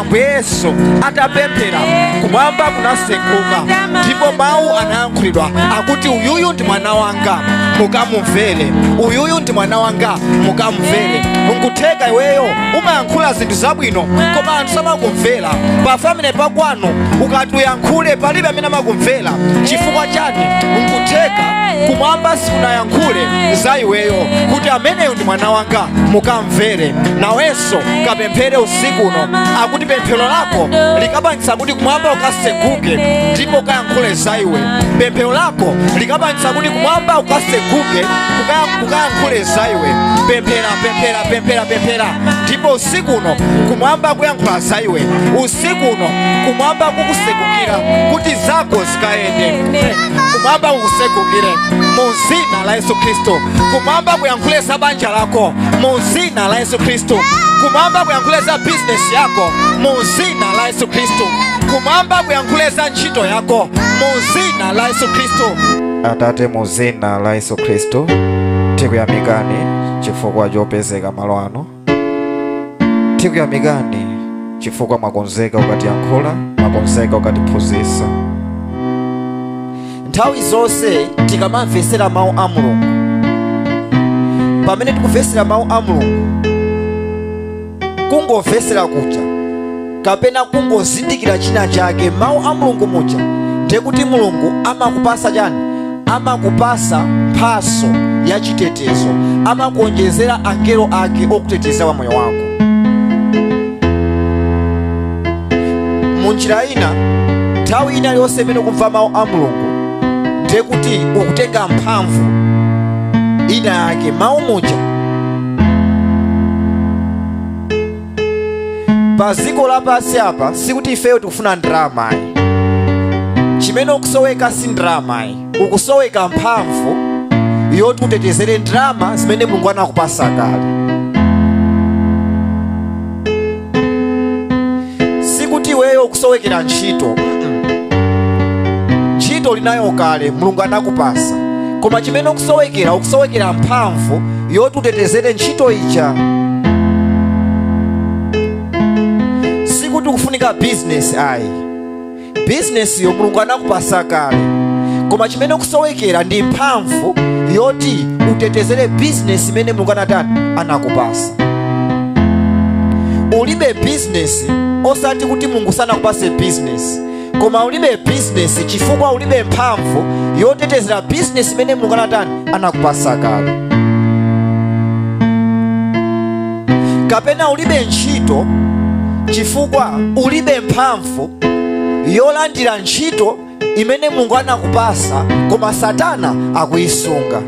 ambuye yesu atapemphera kumwamba kunaseguka ndipo mawu anayankhulidwa akuti uyuyu ndi mwana wanga mukamumvere uyuyu ndi mwana wanga mukamumvere nkutheka iweyo umayankhula zinthu zabwino koma anthu samakumvera pa family pakwanu ukati uyankhule palibe amene amakumvera chifukwa chani nkutheka kumwamba sikunayankhule za iweyo kuti ameneyo ndi mwana wanga mukamvere nawenso kapemphere usiku uno akuti pemphero lako likapangitsa kuti kumwamba kukaseguke ndipo kukayankhule za iwe pemphero lako likapangitsa kuti kumwamba kukaseguke kukayankhule za iwe pemphera pemphera pemphera pemphera ndipo usiku uno kumwamba kuyankhula za iwe usiku uno kumwamba kukusegukira kuti zako zikayende kumwamba kukusegukire mu zina la yesu khristu kumwamba kuyankhule za banja lako mu zina la yesu khristu kumwamba kuyankhule za bizinesi yako mu zina la yesu khristu kumwamba kuyankhule za ntchito yako mu zina la yesu khristu atate mu zina la yesu khristu tikuyamikani chifukwa chopezeka malo ano tikuyamikani chifukwa mwakonzeka kukatiyankhula mwakonzeka kukatiphunzitsa nthawi zonse tikamamvetsera mawu a mulungu pamene tikumvetsera mawu a mulungu kungomvetsera kuja kapena kungozindikira china chake mawu a mulungu muja ndiye kuti mulungu amakupasa chani amakupasa mphaso ya chitetezo amakuonjezera angelo ake okuteteza kwa moyo wako munjira ina nthawi ina yonse imene ukumva mawu a mulungu ndiye kuti ukutenga mphamvu ina yake mawu muja pa dziko lapansi apa sikuti ifeyo tikufuna ndalama ayi chimene ukusoweka si ndalama ayi ukusoweka mphamvu yoti utetezere ndalama zimene mulungu anakupasa kale sikuti iweyo ukusowekera ntchito Mm-mm. ntchito ulinayo kale mulungu anakupasa koma chimene ukusowekera ukusowekera mphamvu yoti utetezere ntchito ija sikuti ukufunika bizinesi ayi bizinesiyo mulungu anakupasa kale koma chimene ukusowekera ndi mphamvu yoti utetezere bizinesi imene mulungu anatani anakupasa ulibe bizinesi osati kuti mulungu sanakupase bizinesi koma ulibe bizinesi chifukwa ulibe mphamvu yotetezera bizinesi imene mulungu anatani anakupasa kale kapena ulibe ntchito chifukwa ulibe mphamvu mphamvu yolandira ntchito imene mulungu anakupasa koma satana akuyisunga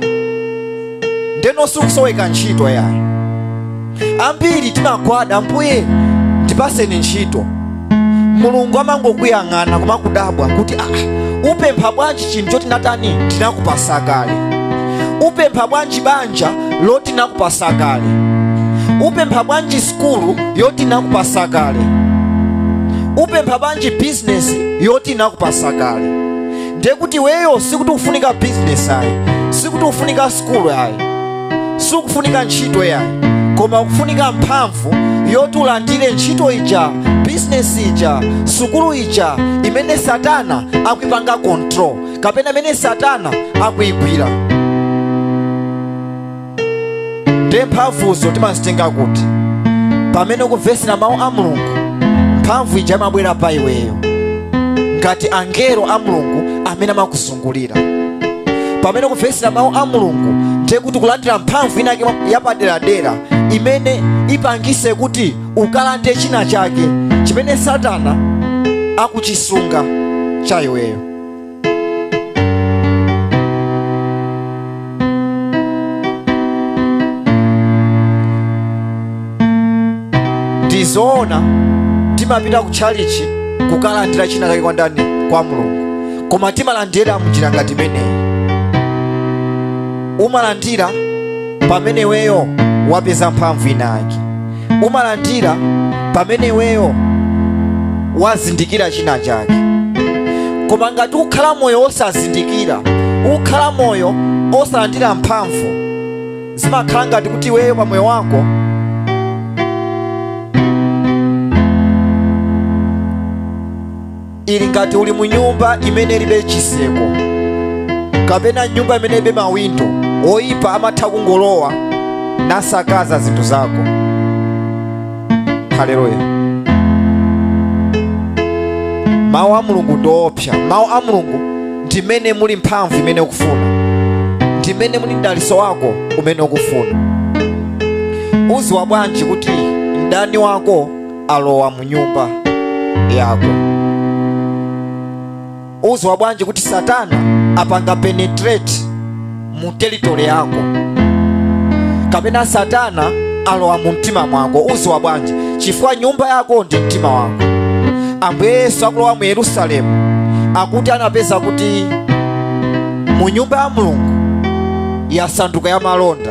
ndeno sikusoweka ntchito yayi ambiri timagwada ambuye ndipaseni ntchito mulungu amangokuyang'ana koma kudabwa kuti ah, upempha bwanji chinthu choti natani ndinakupasa kale upempha bwanji banja loti nakupasa kale upempha bwanji sukulu yoti nakupasa kale upempha bwanji bizinesi yoti nakupasa kale ndiye kuti iweyo sikuti ufunika bizinesi ayi sikuti ufunika sukulu ayi sikufunika ntchito yayi koma ukufunika mphamvu yoti ulandire ntchito ija bizinesi ija sukulu ija imene satana akuipanga control kapena imene satana akuigwira ndiye mphamvuzo timazitenga kuti pamene ukumvesera mawu a mulungu mphamvu ija imabwera pa iweyo ngati angelo a mulungu amene amakuzungulira pamene ukumvesera mawu a mulungu ndiye kuti kulandira mphamvu inake yapaderadera imene ipangise kuti ukalande china chake chimene satana akuchisunga cha iweyo ndizoona timapita ku tchalichi kukalandira china kake kwa ndani kwa mulungu koma timalandira mnjira ngati imeneyi umalandira pamene iweyo wapeza mphamvu inayake umalandira pamene iweyo wazindikira china chake koma ngati ukhala moyo osazindikira ukhala moyo osalandira mphamvu zimakhala ngati kuti iweyo pa moyo wako ili ngati uli mu nyumba imene ilibe chiseko kapena nyumba imene ilibe mawindo oyipa amatha kungolowa nasakaza zinthu zako haleluya mawu a mulungu ndi oopsa mawu a mulungu ndi mmene muli mphamvu imene ukufuna ndi mmene muli mdaliso wako umene ukufuna uziwa bwanji kuti mdani wako alowa mu nyumba yako uziwa bwanji kuti satana apanga penetrate mu territory yako kapena satana alowa mu mtima mwako uziwa bwanji chifukwa nyumba yako ndi mtima wako ambuye yesu akulowa mu yerusalemu akuti anapeza kuti mu nyumba ya mulungu yasanduka ya malonda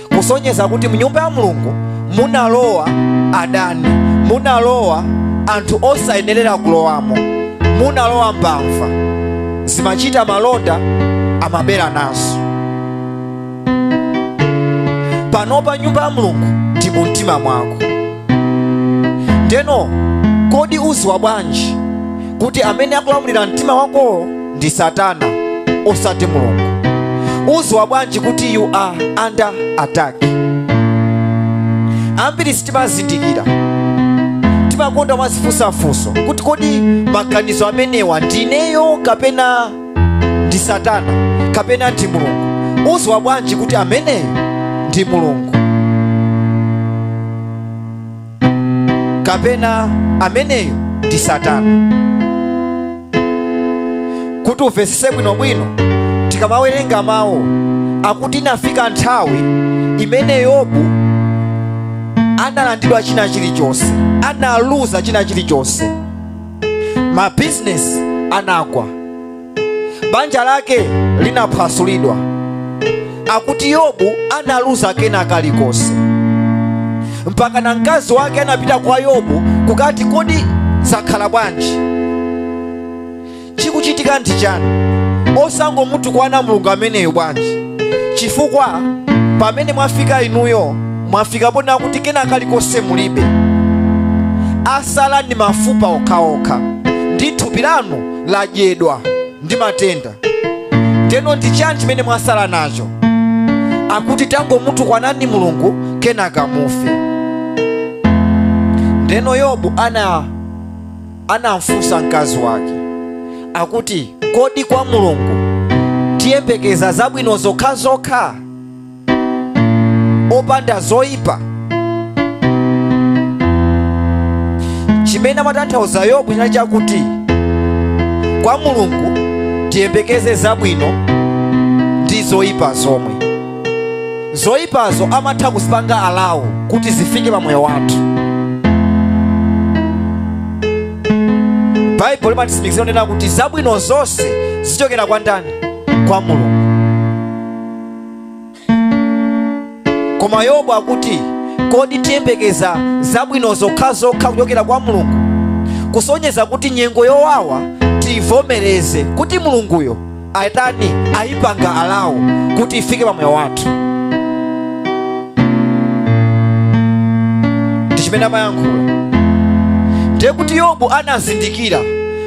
kusonyeza kuti mnyumba ya mulungu munalowa adani munalowa anthu osayenerera kulowamo munalowa mbava zimachita malonda amabera nazo panopa nyumba ya mulungu ndi mu mtima mwako ndeno kodi uziwa bwanji kuti amene akulamulira mtima wakowo ndi satana osati mulungu uziwa bwanji kuti you are under attack ambiri sitimazindikira timakonda kumazifunsafunsa kuti kodi maganizo amenewa ndineyo kapena ndi satana kapena ndi mulungu uziwa bwanji kuti ameneyo ndi mulungu kapena ameneyo ndi satana kuti umvetsetse bwinobwino tikamawerenga mawu akuti inafika nthawi imene yobu analandidwa china chilichonse analuza china chilichonse mabizinesi anagwa banja lake linaphwasulidwa akuti yobu analuza kena kalikonse mpaka na mkazi wake anapita kwa yobu kukati kodi zakhala bwanji chikuchitika ndi chani osangomutukwana mulungu ameneyo bwanji chifukwa pamene mwafika inuyo mwafika ponena kuti kena kalikonse mulibe asala ndi mafupa okhaokha ndi thupi lanu ladyedwa ndi matenda ndeno ndi chani chimene mwasala nacho akuti tangomutukwanani mulungu kenaka mufe ndeno yobu anamfunsa mkazi wake akuti kodi kwa mulungu tiyembekeza zabwino zokhazokha opanda zoyipa chimene amatanthauza yobu chinali chakuti kwa mulungu tiyembekeze zabwino ndi zoyipa zomwe zoyipazo amatha kuzipanga allow kuti zifike pa moyo wathu baibulo limatitsimikizira kunena kuti zabwino zonse zichokera kwa ndani kwa mulungu koma yobu akuti kodi tiyembekeza zabwino zokhazokha kuchokera kwa mulungu kusonyeza kuti nyengo yowawa tiyivomereze kuti mulunguyo ayitani ayipanga alawo kuti ifike pa moyo wathu ndi chimene amayankhula ndiye kuti yobu anazindikira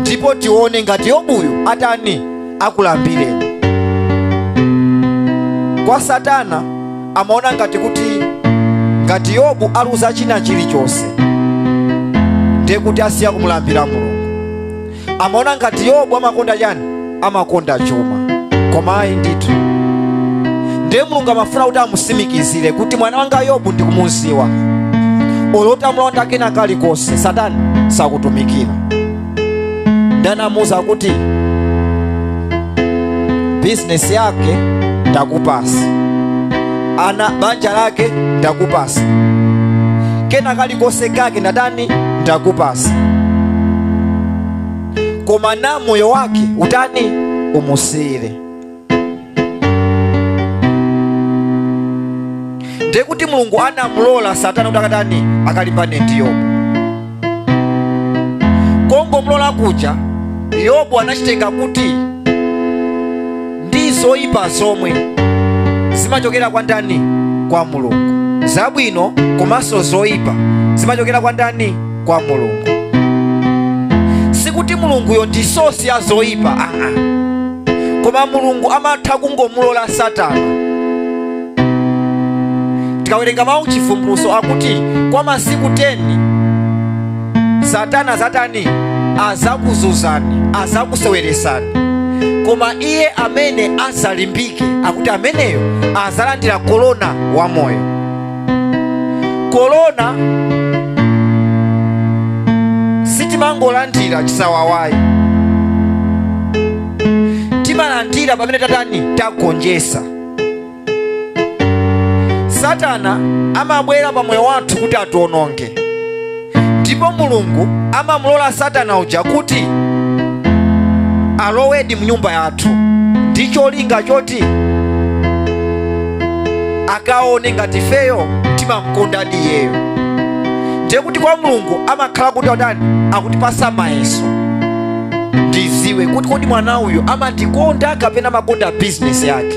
ndipo tione ngati yobuyu atani akulambireni kwa satana amaona ngati kuti ngati yobu aluza china chilichonse ndiye kuti asiya kumulambira mulungu amaona ngati yobu amakonda chani amakonda chuma koma ayi ndithu ndiye mulungu amafuna kuti amusimikizire kuti mwana wanga yobu ndikumuziwa olo kuti amulanda kena kalikonse satani sakutumikira ndanamuuza kuti bizinesi yake ndakupasa ana banja lake ndakupasa kena kalikonse kake ndatani ndakupasa koma na moyo wake utani umusiire ndiye kuti mulungu anamulola satana kuti akatani akalimbane ndi yobu kongomulola kuja yobu anachitenga kuti ndi zoyipa zomwe zimachokera kwa ndani kwa mulungu zabwino komanso zoyipa zimachokera kwa ndani kwa mulungu sikuti mulunguyo ndi sosi ya zoyipa aa koma mulungu amatha kungomulola satana tikawerenga mawu chivumbulutso akuti kwa masiku 10 satana zatani azakuzuzani azakuseweresani koma iye amene azalimbike akuti ameneyo azalandira korona wa moyo korona sitimangolandira chisawawayi timalandira pamene tatani tagonjesa satana amabwera pa moyo wathu kuti atiwononge ndipo mulungu amamulola satana uja kuti alowedi m'nyumba yathu ndi cholinga choti akaone ngati ifeyo timamkondadi iyeyo ndiye kuti kwa mulungu amakhala kuti atani akutipasa mayeso ndiziwe kuti kodi mwana uyu amandikonda kapena amakonda bizinesi yake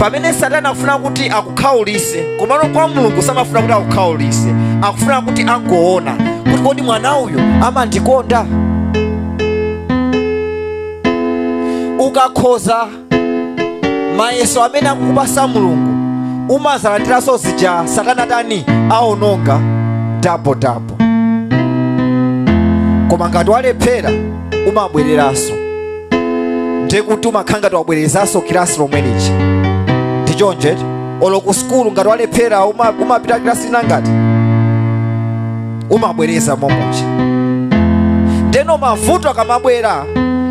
pamene satana akufuna kuti akukhaulise komano kwa mulungu samafuna kuti akukhaulise akufuna kuti angoona kuti kodi mwana uyu amandikonda ukakhoza mayeso amene akukupasa mulungu umazalandiranso zija satana atani aononga dabo dabo koma ngati walephera umabwereranso ndiye kuti umakhala ngati wabwerezanso kilasi lomwe lija ndi choncho eti olo ku sukulu ngati walephera uma- umapita kilasi ina ngati umabwereza momuja ndeno mavuto akamabwera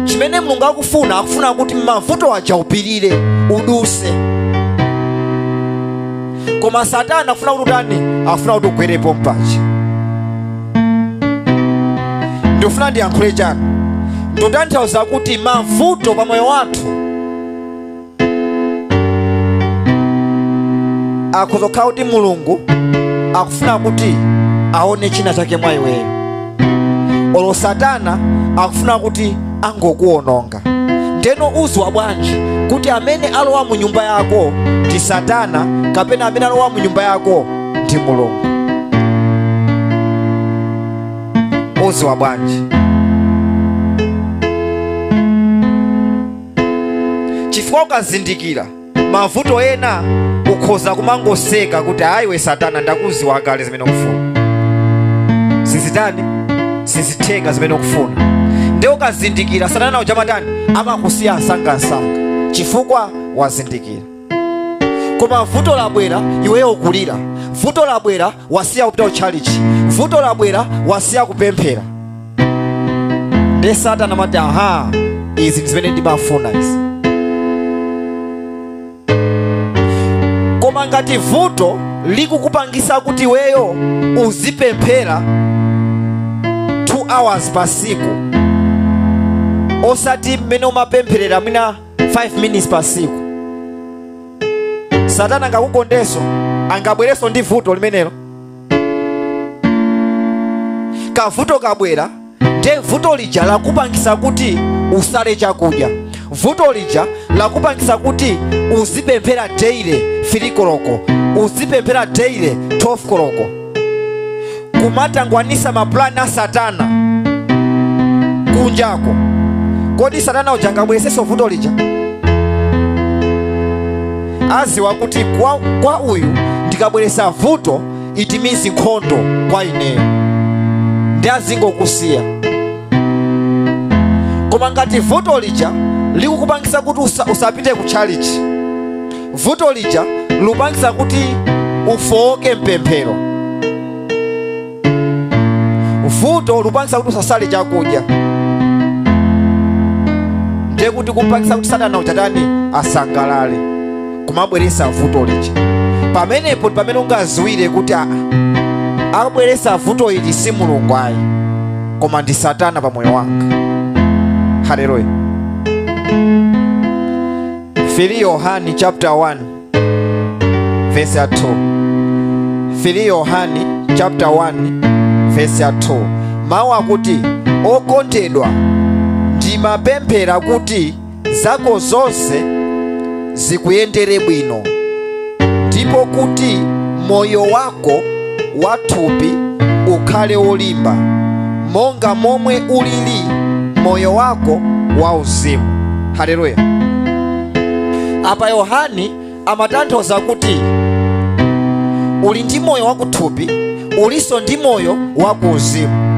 chimene mulungu akufuna akufuna kuti mavuto aja upirire uduse koma satana akufuna kuti utani akufuna kuti ugwere pompaja ndikufuna ndiyankhule chani ndikutanthauza kuti mavuto pa moyo wathu akhoza kukhala kuti mulungu akufuna kuti aone china chake mwa iweyo olo satana akufuna kuti angokuononga ndeno uziwa bwanji kuti amene alowa mu nyumba yako ndi satana kapena amene alowa mu nyumba yako ndi mulungu uziwa bwanji chifukwa ukazindikira mavuto ena ukhoza kumangoseka kuti ayiwe satana ndakuziwa kale zimene ukufuna sizitani sizitheka zimene ukufuna nde ukazindikira satana uja amatani amakusiya msangamsanga chifukwa wazindikira koma vuto labwera iweyo ukulira vuto labwera wasiya kupita kutchalichi vuto labwera wasiya kupemphera nde satana amati aha izi ndi zimene ndimafuna izi koma ngati vuto likukupangisa kuti iweyo uzipemphera 2 hours pa siku osati mmene umapempherera mwina 5 minutes pa siku satana angakukondenso angabwerenso ndi vuto limenelo kavuto kabwera nde vuto lija lakupangisa kuti usale chakudya vuto lija lakupangisa kuti uzipemphera daily 3 koloko uzipemphera daily 12 koloko kumatangwanisa mapulani a satana kunjako kodi satana uja angabweresenso vuto lija adziwa kuti kwa, kwa uyu ndikabweresa vuto it means nkhondo kwa ineyo nde azingokusiya koma ngati vuto lija likukupangisa kuti usa, usapite ku tchalichi vuto lija likupangisa kuti ufowoke mpemphero vuto likupangitsa kuti usasale chakudya ndiye kuti ukupangitsa kuti satana achite chiyani asangalale kumabweretsa vuto lija pamenepo ndi pamene ungaziwire kuti akubweretsa vuto ili si mulungu ayi koma ndi satana pa moyo wanga haleluya 3 yohani chapter 1 vesi ya 2 3 yohani chapter 1 vesi ya 2 mawu akuti okondedwa ndimapemphera kuti zako zonse zikuyendere bwino ndipo kuti moyo wako wa thupi ukhale wolimba monga momwe ulili moyo wako wa uzimu haleluya apa yohani amatanthauza kuti uli ndi moyo wakuthupi ulinso ndi moyo wakuuzimu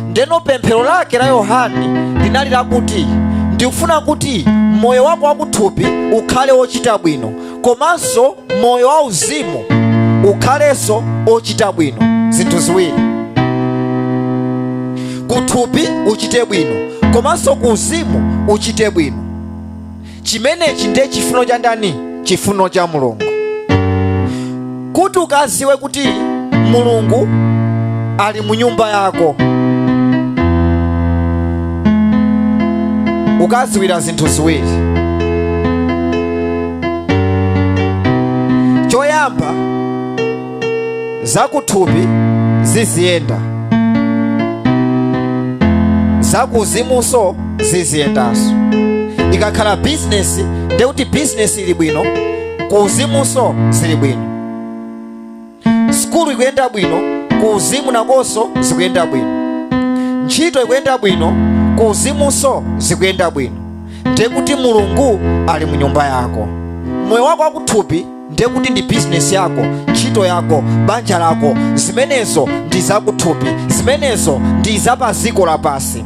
ndeno pemphero lake la yohani linali lakuti ndikufuna kuti moyo wako wakuthupi ukhale wochita bwino komanso moyo wauzimu ukhalenso ochita bwino zinthu ziwiri kuthupi uchite bwino komanso ku uzimu uchite bwino chimenechi ndiye chifuno cha ndani chifuno cha mulungu kuti ukaziwe kuti mulungu ali mu nyumba yako ukaziwira zinthu ziwiri choyamba zakuthupi ziziyenda zakuuzimunso ziziyendanso ikakhala bizinesi ndekuti bizinesi ili bwino ku uzimunso zili bwino sukulu ikuyenda bwino ku uzimu nakonso zikuyenda bwino ntchito ikuyenda bwino ku uzimunso zikuyenda bwino ndiye kuti mulungu ali mu nyumba yako moyo wako wakuthupi ndiye kuti ndi bizinesi yako ntchito yako banja lako zimenezo ndi zakuthupi zimenezo ndi zapadziko lapansi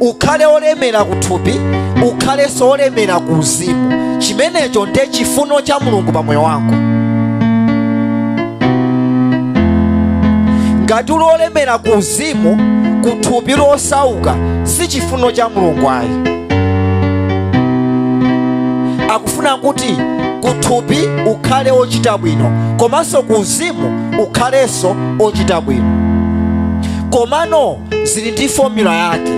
ukhale olemera kuthupi ukhalenso olemera ku uzimu chimenecho nde chifuno cha mulungu pa moyo wako ngati uli olemera ku uzimu kuthupi losauka si chifuno cha mulungu ayi akufuna kuti kuthupi ukhale ochita bwino komanso ku uzimu ukhalenso ochita bwino komano zili ndi fomula yake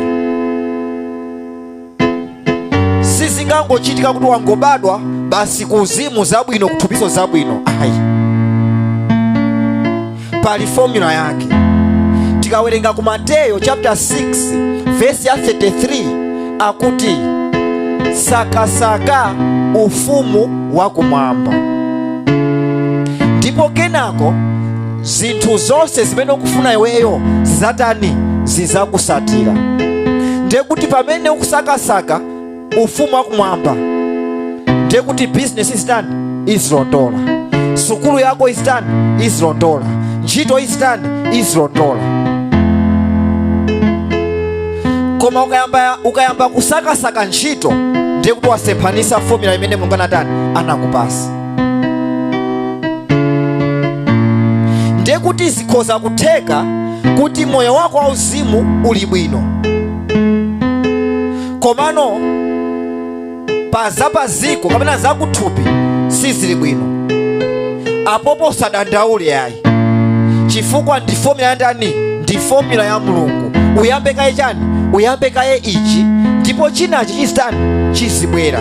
sizingangochitika kuti wangobadwa basi kuuzimu zabwino kuthupiso zabwino ayi pali fomula yake tikawerenga ku mateyo chapter 6 vesi ya 33 akuti sakasaka ufumu wakumwamba ndipo kenako zinthu zonse zimene ukufuna iweyo zizatani zizakusatira ndiye kuti pamene ukusakasaka ufumu wakumwamba ndiye kuti bizinesi izitani izilondola sukulu yako izitani izilondola ntchito izitani izilondola koma ukayamba kusakasaka ntchito ndiye kuti wasemphanisa fomula imene mulungu anatani anakupasa ndiye kuti zikhoza kutheka kuti moyo wako wauzimu uli bwino komano pa zapaziko kapena zakuthupi sizili bwino apopo usadandaule ayi chifukwa ndi fomula ya ndani ndi fomula ya mulungu uyambe kaye chani uyambe kaye ichi ndipo chinachi chizitani chizibwera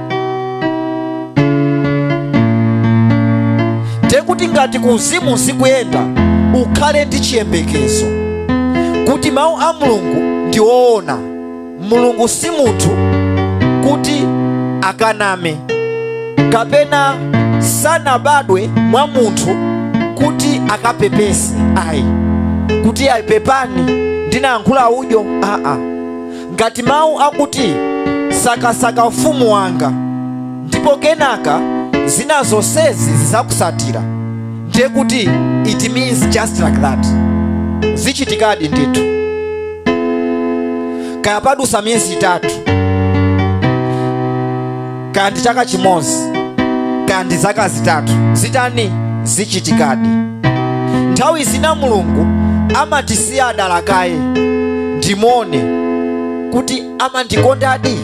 ndekuti ngati kuuzimu zikuyenda ukhale ndi chiyembekezo kuti mawu a mulungu ndi woona mulungu si munthu kuti akaname kapena sanabadwe mwa munthu kuti akapepese ayi kuti ayi pepani ndinayankhula udyo aa Ngati mawu akuti sakasaka ufumu wanga ndipo kenaka zina zonsezi zizakusatira ndiye kuti it means just like that zichitikadi ndithu kaya padusa miyezi itatu kaya ndi chaka chimodzi kaya ndi zaka zitatu zitani zichitikadi nthawi zina mulungu amatisiya dala kaye ndimuone kuti amandikondadi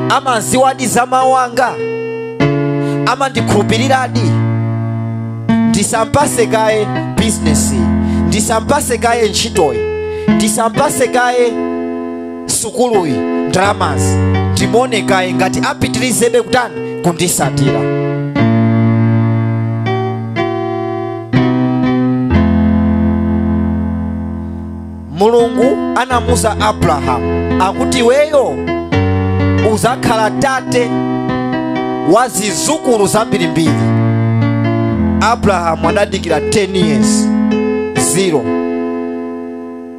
amaziwadi za mawu anga amandikhulupiriradi ndisampase kaye bizinesi ndisampase kaye ntchitoyi ndisampase kaye sukuluyi ndalamazi ndimuone kaye ngati apitirizebe kutani kundisatira mulungu anamuza abrahamu akuti iweyo uzakhala tate wa zizukulu zambirimbiri abrahamu anadikira 10 years zero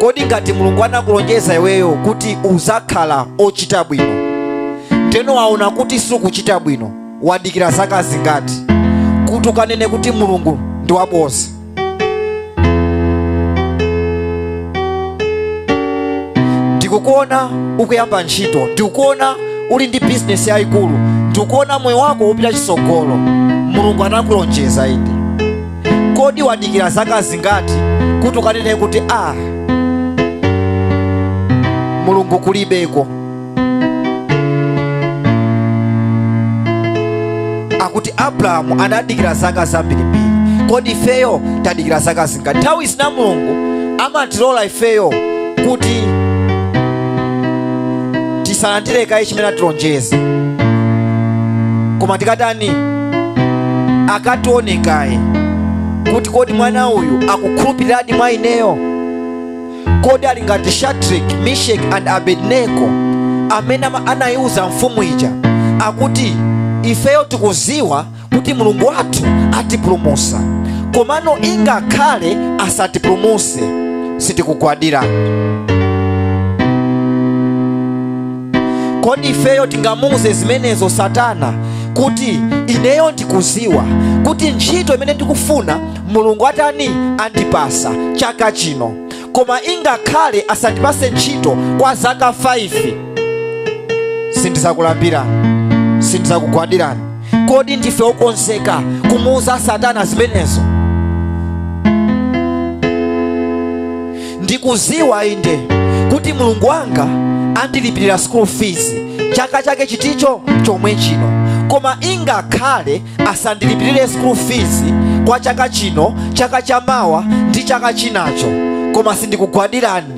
kodi ngati mulungu anakulonjeza iweyo kuti uzakhala ochita bwino teno waona kuti sukuchita bwino wadikira zaka zingati kuti ukanene kuti mulungu ndi wabodza ndikukuona ukuyamba ntchito ndikukuona uli ndi bizinesi yayikulu ndikukuona moyo wako upita chisogolo mulungu anakulonjeza inde kodi wadikira zaka zingati kuti ukanene kuti a mulungu kulibeko akuti abrahamu anadikira zaka zambirimbiri kodi ifeyo tadikira zaka zingati nthawi zina mulungu amatilola ifeyo kuti tisalandire kaye chimene atilonjeza koma tikatani akatione kaye kuti kodi mwana uyu akukhulupiliradi mwa ineyo kodi ali ngati shadrack meshach and abednego amene ama- anayiwuza mfumu ija akuti ifeyo tikuziwa kuti mulungu wathu atipulumusa komano ingakhale asatipulumuse sitikugwadira kodi ifeyo tingamuuze zimenezo satana kuti ineyo ndikuziwa kuti ntchito imene ndikufuna mulungu atani andipasa chaka chino koma ingakhale asandipase ntchito kwa zaka 5 sindizakulambirani sindizakugwadirani kodi ndife okonzeka kumuuza satana zimenezo ndikuziwa inde kuti mulungu wanga andilipirira school fees chaka chake chiticho chomwe chino koma ingakhale asandilipirire school fees kwa chaka chino chaka cha mawa ndi chaka chinacho koma sindikugwadirani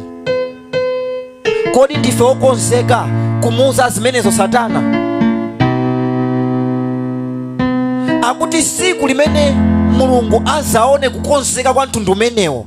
kodi ndife okonzeka kumuuza zimenezo satana akuti siku limene mulungu azaone kukonzeka kwa mtundu umenewo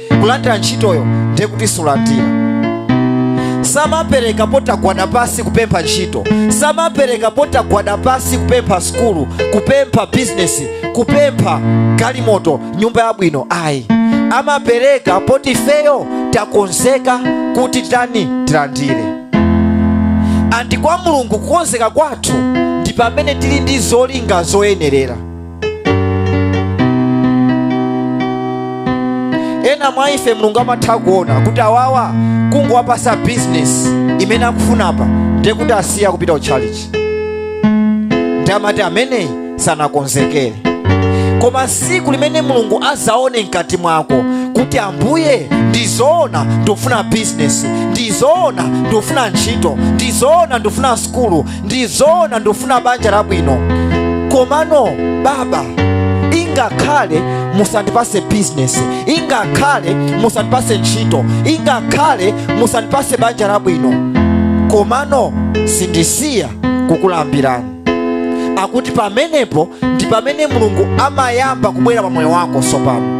kulandira ntchitoyo ndiye kuti sulandire samapereka potagwada pasi kupempha ntchito samapereka potagwada pasi kupempha sukulu kupempha bizinesi kupempha galimoto nyumba yabwino ayi amapereka poti ifeyo takonzeka kuti tani tilandire andi kwa mulungu kukonzeka kwathu ndi pamene tili ndi zolinga zoyenerera ena mwa ife mulungu amatha kuona kuti awawa kungowapasa bizinesi imene akufunapa ndiye kuti asiya kupita ku church ndi amati ameneyi sanakonzekere koma siku limene mulungu azaone mkati mwako kuti ambuye ndizoona ndikufuna bizinesi ndizoona ndikufuna ntchito ndizoona ndikufuna sukulu ndizoona ndikufuna banja labwino komano baba ingakhale musandipase bizinesi ingakhale musandipase ntchito ingakhale musandipase banja labwino komano sindisiya kukulambirani akuti pamenepo ndi pamene mulungu amayamba kubwera pa moyo wako sopano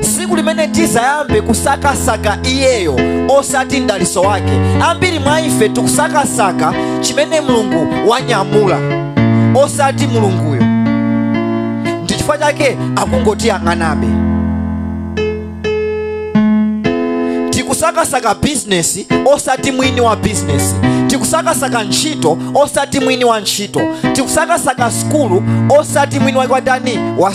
siku limene tizayambe kusakasaka iyeyo osati mdaliso wake ambiri mwa ife tikusakasaka chimene mulungu wanyamula osati mulunguyo ndi chifukwa chake akungotiyang'anabe tikusakasaka bizinesi osati mwini wa bizinesi tikusakasaka ntchito osati mwini wa ntchito tikusakasaka sukulu osati mwini wake watani wa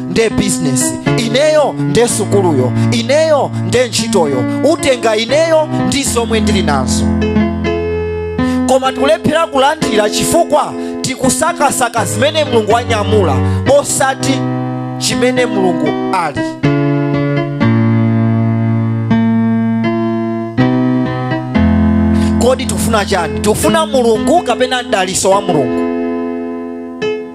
nde bizinesi ineyo nde sukuluyo ineyo nde ntchitoyo utenga ineyo ndi zomwe ndili nazo koma tikulephera kulandira chifukwa tikusakasaka zimene mulungu wanyamula osati chimene mulungu ali kodi tikufuna chani tikufuna mulungu kapena mdaliso wa mulungu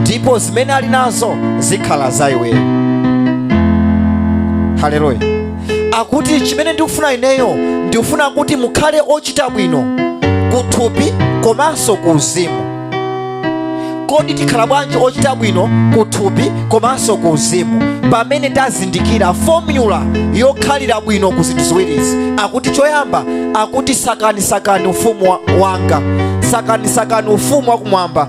ndipo zimene ali nazo zikhala za iweyo haleluya akuti chimene ndikufuna ineyo ndikufuna kuti mukhale ochita bwino kuthupi komanso ku uzimu kodi tikhala bwanji ochita bwino kuthupi komanso ku uzimu pamene tazindikira fomula yokhalira bwino ku zinthu ziwirizi akuti choyamba akuti sakanisakani ufumu wa- wanga sakanisakani ufumu wakumwamba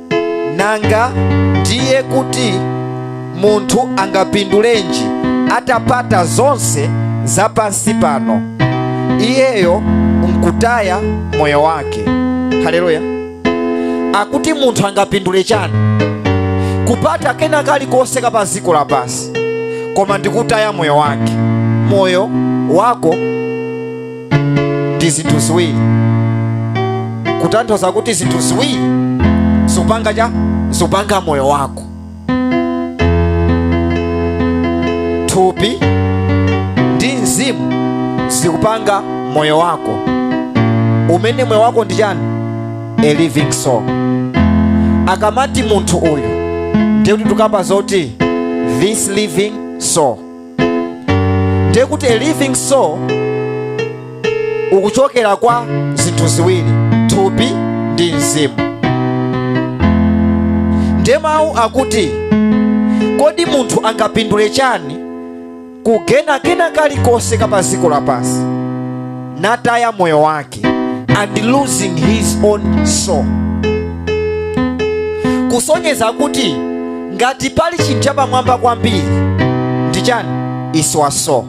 Nanga ndiye kuti munthu angapindulenji atapata zonse za pansi pano iyeyo nkutaya moyo wake? Haleluya! Akuti munthu angapindule chani kupata kena kalikonse ka pa dziko lapansi koma ndikutaya moyo wake? Moyo wako ndi zinthu ziwiri kutanthauza kuti zinthu ziwiri zikupanga cha zikupanga moyo wako thupi ndi mzimu zikupanga moyo wako umene moyo wako ndi chani a living soul akamati munthu uyu ndiye kuti tukamba zoti this living soul ndiye kuti a living soul ukuchokera kwa zinthu ziwiri thupi ndi mzimu ndiye mawu akuti kodi munthu angapindule chani kugaina kena kalikonse ka pa dziko lapansi nataya moyo wake and losing his own soul kusonyeza kuti ngati pali chinthu chapamwamba kwambiri ndi chani is your soul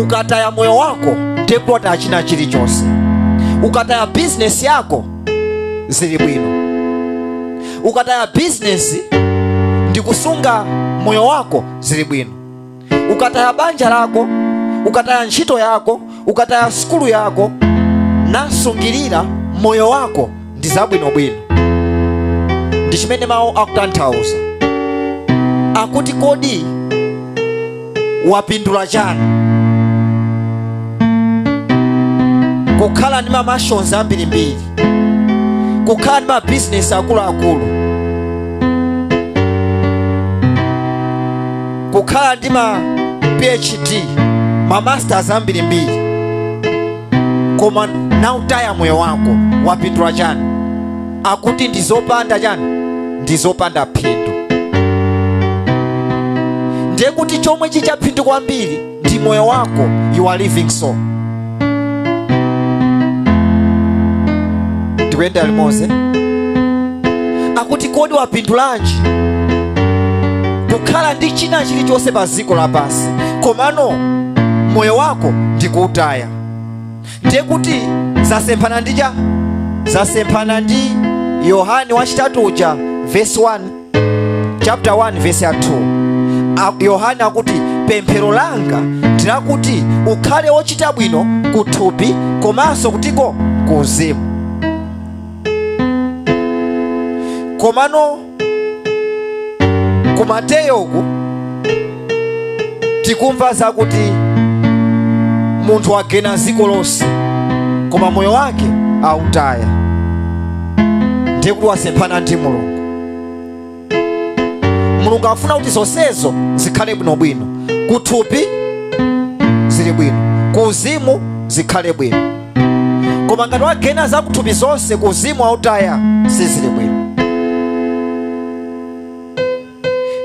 ukataya moyo wako ndiye pathera china chilichonse ukataya bizinesi yako zili bwino ukataya bizinesi ndikusunga moyo wako zili bwino ukataya banja lako ukataya ntchito yako ukataya sukulu yako nasungirira moyo wako ndi zabwinobwino ndi chimene mawu akutanthauza akuti kodi wapindula chani kukhala ndi ma mansions ambirimbiri kukhala ndi mabizinesi akuluakulu kukhala ndi ma phd ma masters ambirimbiri koma nautaya moyo wako wapindula chani akuti ndizopanda chani ndizopanda phindu ndiye kuti chomwe chili cha phindu kwambiri ndi moyo wako you are living soul tikuyenda limodzi akuti kodi wapindulanji kukhala ndi china chilichonse pa dziko lapansi komano moyo wako ndikuutaya ndiye kuti zasemphana ndi cha zasemphana ndi yohane wachitatu uja vesi 1 chapter 1 verse ya 2 yohane akuti pemphero langa ndilakuti ukhale wochita bwino kuthupi komanso kutiko kuuzimu komano ku mateyo uku tikumva zakuti munthu wagena ziko lonse koma moyo wake autaya ndiye kuti wasemphana ndi mulungu mulungu afuna kuti zonsezo zikhale bwinobwino kuthupi zili bwino kuuzimu zikhale bwino koma ngati wagena zakuthupi zonse kuuzimu wautaya sizili bwino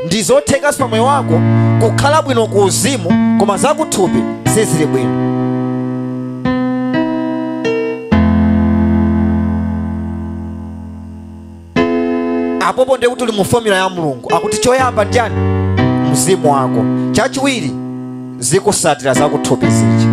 ndi zothekanso pa moyo wako kukhala bwino ku uzimu koma zakuthupi sizili bwino apopo ndiye kuti uli mu fomula ya mulungu akuti choyamba nchiyani mzimu wako chachiwiri zikusatira zakuthupi zija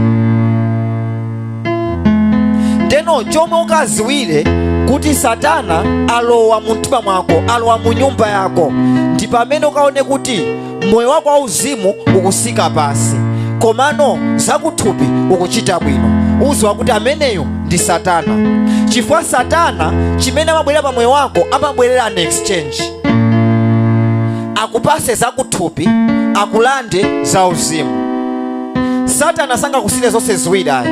ndeno chomwe ukaziwire kuti satana alowa mu mtima mwako alowa mu nyumba yako ndi pamene ukaone kuti moyo wako wauzimu ukusika pasi komano zakuthupi ukuchita bwino uziwe kuti ameneyo ndi satana chifukwa satana chimene amabwerera pa moyo wako amabwerera an exchange akupase zakuthupi akulande zauzimu satana sangakusiyire zonse ziwiri ayi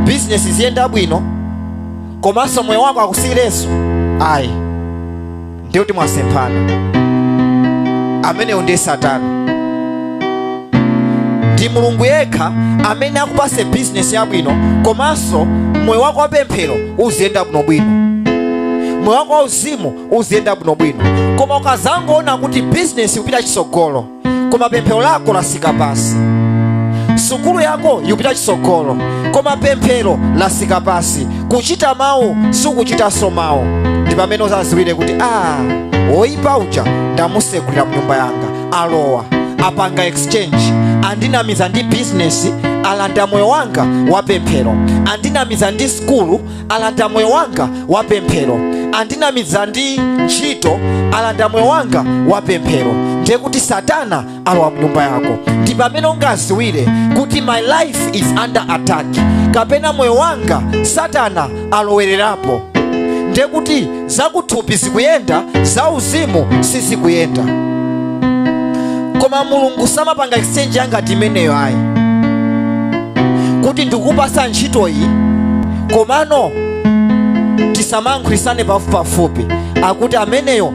bizinesi ziyenda bwino komanso moyo wako akusiyireso ayi ndiye kuti mwasemphana ameneyo ndiye satana ndi mulungu yekha amene akupase bizinesi yabwino komanso moyo wako wa pemphero uziyenda bwinobwino moyo wako wa uzimu uziyenda bwinobwino koma ukazangoona kuti bizinesi ikupita chisogolo koma pemphero lako lasika pasi sukulu yako ikupita chitsogolo koma pemphero lasika pasi kuchita mawu sukuchitanso mawu ndi pamene uzaziwire kuti a woyipa uja ndamusegulira mnyumba yanga alowa apanga exchange andinamiza ndi bizinesi alanda moyo wanga wa pemphero andinamiza ndi sukulu alanda moyo wanga wa pemphero andinamiza ndi ntchito alanda moyo wanga wa pemphero ndiye kuti satana alowa mnyumba yako ndi pamene ungaziwire kuti my life is under attack kapena moyo wanga satana alowererapo ndiye kuti zakuthupi zikuyenda zauzimu sizikuyenda koma mulungu samapanga exchange yangati imeneyo ayi kuti ndikupasa ntchito iyi komano tisamayankhulisane pafupipafupi akuti ameneyo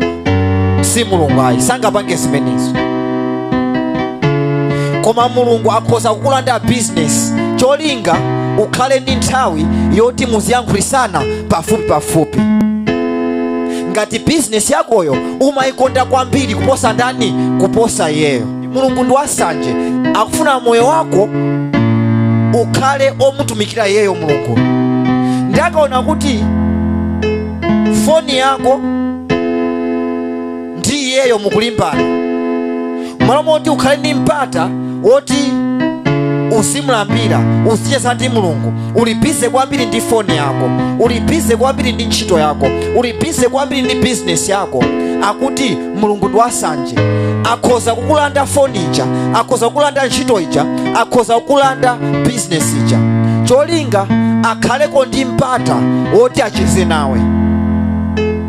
si mulungu ayi sangapange zimenezo koma mulungu akhoza kukulanda bizinesi cholinga ukhale ndi nthawi yoti muziyankhulisana pafupi pafupi ngati bizinesi yakoyo umayikonda kwambiri kuposa ndani kuposa iyeyo mulungu ndi wasanje akufuna moyo wako ukhale omutumikira iyeyo mulungu nde akaona kuti foni yako ndi iyeyo mukulimbana mmalo moti ukhale ndi mpata woti uzimulambira uzicheza ndi mulungu uli bize kwambiri ndi foni yako uli bize kwambiri ndi ntchito yako uli bize kwambiri ndi bizinesi yako akuti mulungu ndi wasanje akhoza kukulanda foni ija akhoza kukulanda ntchito ija akhoza kukulanda bizinesi ija cholinga akhaleko ndi mpata woti acheze nawe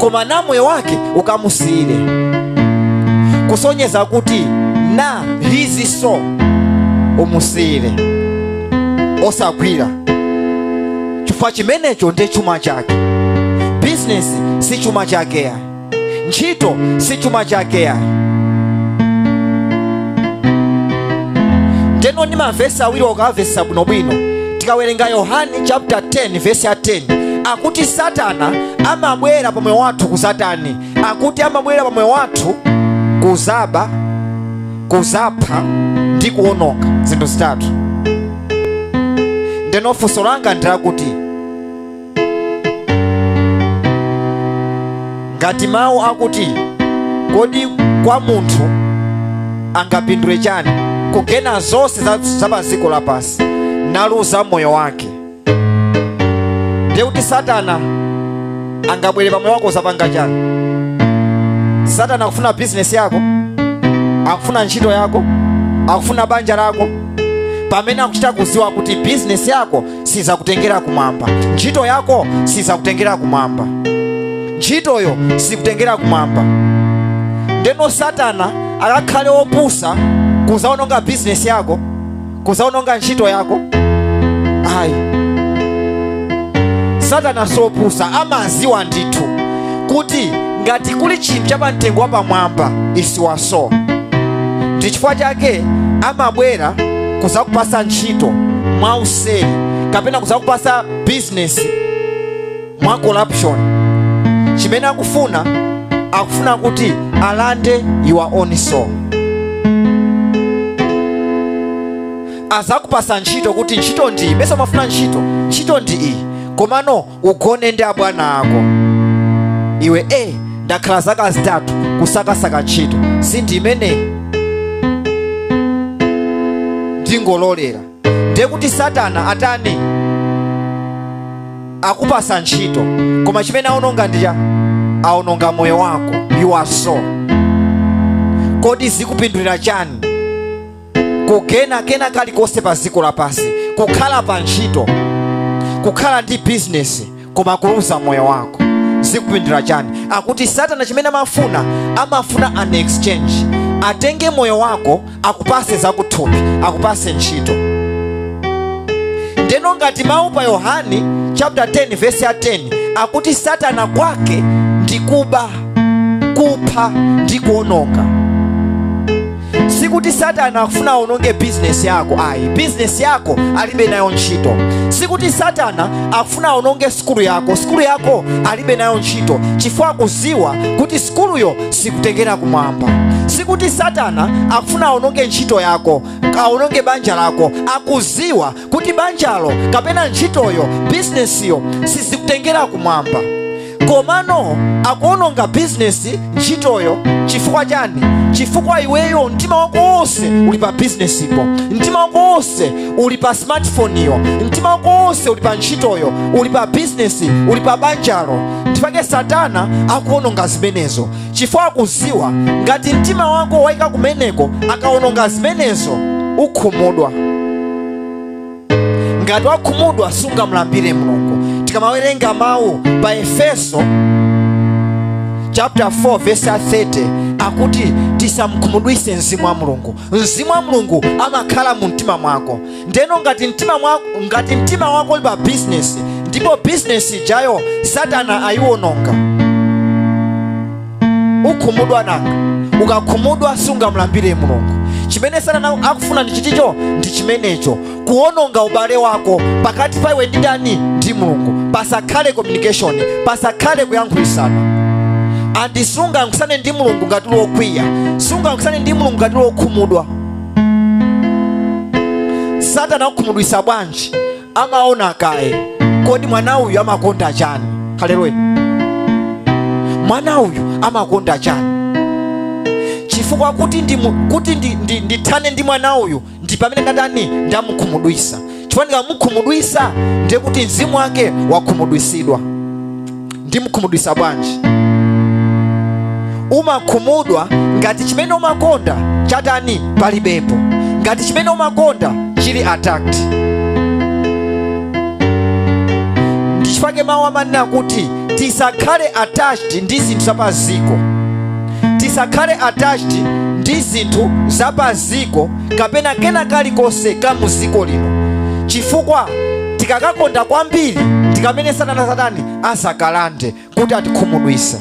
koma na moyo wake ukamusiyire kusonyeza kuti na izizo umusiyire osagwira chifukwa chimenecho nde chuma chake bizinesi si chuma chake ayi ntchito si chuma chake ayi ndeno ndi mavesi awiri ukawavesesa bwinobwino tikawerenga yohane chapter 10 vesi ya 10 akuti satana amabwera pa moyo wathu kuzatani akuti amabwera pa moyo wathu kuzaba kuzapha ndi kuononga zinthu zitatu ndeno funso langa ndi lakuti ngati mawu akuti kodi kwa munthu angapindule chani kugaina zonse za pa dziko lapansi naluza moyo wake ndiye kuti satana angabwere pa moyo wako kuzapanga chani satana akufuna bizinesi yako akufuna ntchito yako akufuna banja lako pamene akuchita kuziwa kuti bizinesi yako sizakutengera kumwamba ntchito yako sizakutengera kumwamba ntchitoyo sikutengera kumwamba ndeno satana akakhale opusa kuzaononga bizinesi yako kuzaononga ntchito yako ayi satana sopusa amaziwa ndithu kuti ngati kuli chinthu cha pamtengo wapamwamba is your soul ndi chifukwa chake amabwera kuzakupasa ntchito mwa useri kapena kuzakupasa bizinesi mwa corruption chimene akufuna akufuna kuti alande your own soul azakupasa ntchito kuti ntchito ndi iyi mesa umafuna ntchito ntchito ndi iyi komano ugone ndi abwana ako iwe e ndakhala zaka zitatu kusakasaka ntchito sindi imeneyi ndingololera ndiye kuti satana atani akupasa ntchito koma chimene aononga ndi chani aononga moyo wako your soul kodi zikupindulira chani kugena kena kalikonse pa dziko lapansi kukhala pa ntchito kukhala ndi bizinesi koma kuluza moyo wako zikupindulira chani akuti satana chimene amafuna amafuna an exchange atenge moyo wako akupase zakuthupi akupase ntchito ndeno ngati mawu pa yohani chapter 10 verse ya 10 akuti satana kwake ndi kuba kupha ndi kuononga sikuti satana akufuna aononge bizinesi yako ayi bizinesi yako alibe nayo ntchito sikuti satana akufuna aononge sikulu yako sikulu yako alibe nayo ntchito chifukwa akuziwa kuti sikuluyo sikutengera kumwamba sikuti satana akufuna aononge ntchito yako aononge banja lako akuziwa kuti banjalo kapena ntchitoyo bizinesiyo sizikutengera kumwamba komano akuononga bizinesi ntchitoyo chifukwa chani chifukwa iweyo mtima wako wonse uli pa bizinesipo mtima wako wonse uli pa smartphone-yo mtima wako wonse uli pa ntchitoyo uli pa bizinesi uli pa banjalo ndipake satana akuononga zimenezo chifukwa akuziwa ngati mtima wako waika kumeneko akaononga zimenezo ukhumudwa ngati wakhumudwa sungamulambire mulungu tikamawerenga mawu pa efeso chapter 4 verse 30 akuti tisamkhumudwise mzimu wa mulungu mzimu wa mulungu amakhala mu mtima mwako ndeno ngati mtima wako uli pa bizinesi ndipo bizinesi ijayo satana ayiwononga ukhumudwa nanga ukakhumudwa sungamlambire mulungu chimene satana akufuna ndi chiticho ndi chimenecho kuwononga ubale wako pakati pa iwe ndi ndani ndi mulungu pasakhale communication pasakhale kuyankhulisana and sungayankhusane ndi mulungu ngati uli wokwiya sungayankhusane ndi mulungu ngati uli wokhumudwa satana akukhumudwisa bwanji amaona kaye kodi mwana uyu amakonda chani haleluya mwana uyu amakonda chani chifukwa kuti ndi, kuti ndi, ndi, ndithane ndi mwana uyu ndi pamene ndatani ndamukhumudwisa chifukwa ndikamukhumudwisa ndiye kuti mzimu wake wakhumudwisidwa ndimkhumudwisa bwanji umakhumudwa ngati chimene umakonda chatani palibepo ngati chimene umakonda chili attacked ndichifake mawu amanena kuti tisakhale attached ndi zinthu zapaziko tisakhale attached ndi zinthu zapaziko kapena kena kalikonse ka mu dziko lino chifukwa tikakakonda kwambiri tikamene satana satani azakalande kuti atikhumudwise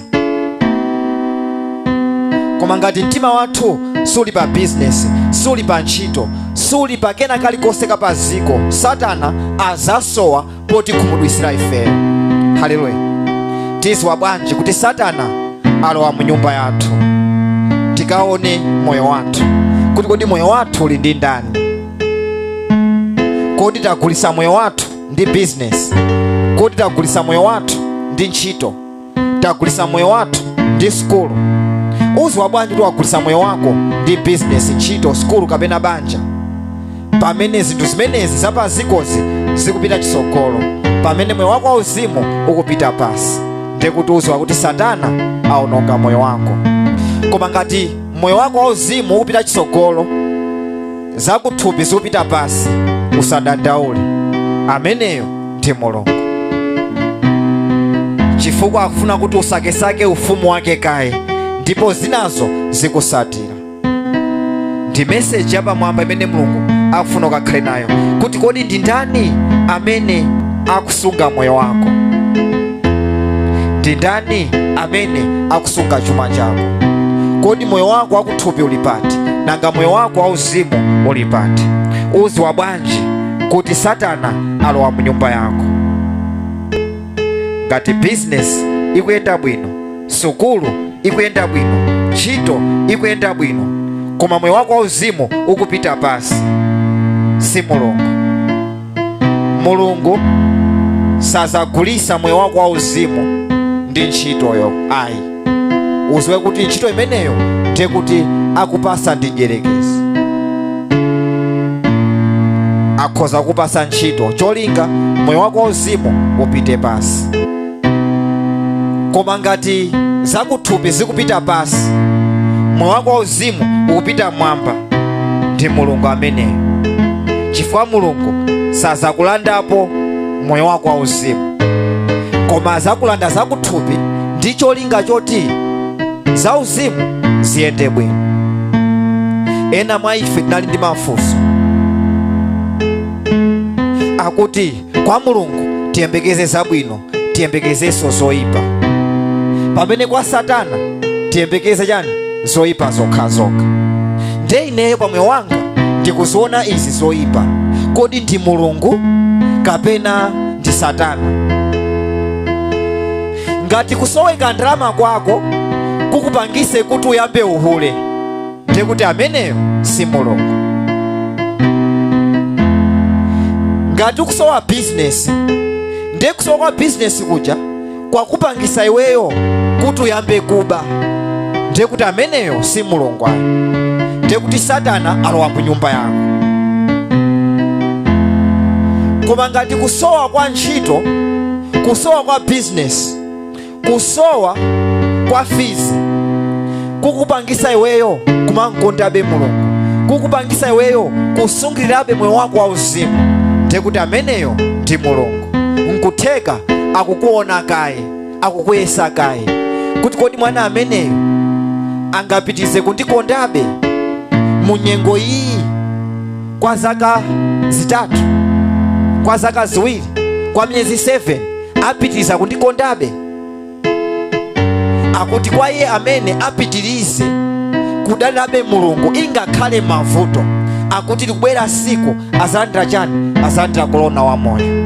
koma ngati mtima wathu suli pa bizinesi suli pa ntchito suli pa kena kalikonse ka pa dziko satana azasowa potikhumudwisira ife haleluya tiziwa bwanji kuti satana alowa mu nyumba yathu tikaone moyo wathu kuti kodi moyo wathu uli ndi ndani kodi tagulisa moyo wathu ndi bizinesi kodi tagulisa moyo wathu ndi ntchito tagulisa moyo wathu ndi sukulu uziwa bwanji kuti wagulisa moyo wako ndi bizinesi ntchito sukulu kapena banja pamene zinthu zimenezi zapazikozi zikupita chisogolo pamene moyo wako wauzimu ukupita pasi nde kuti uziwa kuti satana aononga moyo wako koma ngati moyo wako wauzimu ukupita chisogolo zakuthupi zikupita pasi usadandaule ameneyo ndi mulungu chifukwa akufuna kuti usakesake ufumu wake kaye ndipo zinazo zikusatira ndi meseji yapamwamba imene mulungu akufuna ukakhale nayo kuti kodi ndi ndani amene akusunga moyo wako ndi ndani amene akusunga chuma chako kodi moyo wako aku thupi ulipati nanga moyo wako wauzimu ulipati uziwa bwanji kuti satana alowa mu nyumba yako ngati bizinesi ikuyenda bwino sukulu ikuyenda bwino ntchito ikuyenda bwino koma moyo wako wauzimu ukupita pasi si mulungu mulungu sazagulisa moyo wako wauzimu ndi ntchitoyo ayi uziwe kuti ntchito imeneyo ndiye kuti akupasa ndi mdyerekezi akhoza kukupasa ntchito cholinga moyo wako wauzimu upite pasi koma ngati zakuthupi zikupita pasi moyo wako wauzimu ukupita mwamba ndi mulungu ameneyo chifukwa mulungu sazakulandapo moyo wako wauzimu koma azakulanda zakuthupi ndi cholinga choti zauzimu ziyende bwino ena mwa ife tinali ndi mafunso akuti kwa mulungu tiyembekeze zabwino tiyembekezenso zoyipa pamene kwa satana tiyembekeze chani zoyipa zokhazokha nde ineyo pa moyo wanga ndikuziona izi zoyipa kodi ndi mulungu kapena ndi satana ngati kusoweka ndalama kwako kukupangise kuti uyambe uhule ndiye kuti ameneyo si mulungu ngati ukusowa bizinesi ndiye kusowa kwa bizinesi kuja kwakupangisa iweyo kuti uyambe kuba ndiye kuti ameneyo si mulungu ayi ndiye kuti satana alowa mu nyumba yako koma ngati kusowa kwa ntchito kusowa kwa bizinesi kusowa kwa fizi kukupangisa iweyo kumankondabe mulungu kukupangisa iweyo kusungirirabe moyo wako wauzimu nde kuti ameneyo ndi mulungu nkutheka akukuona kaye akukuyesa kaye kuti kodi mwana ameneyo angapitize kundikondabe mu nyengo iyi kwa zaka zitatu kwa zaka ziwiri kwa miyezi 7 apitiriza kundikondabe akuti kwa iye amene apitirize kudalirabe mulungu ingakhale mavuto akuti likubwera siku azalandira chani azalandira kolona wa moyo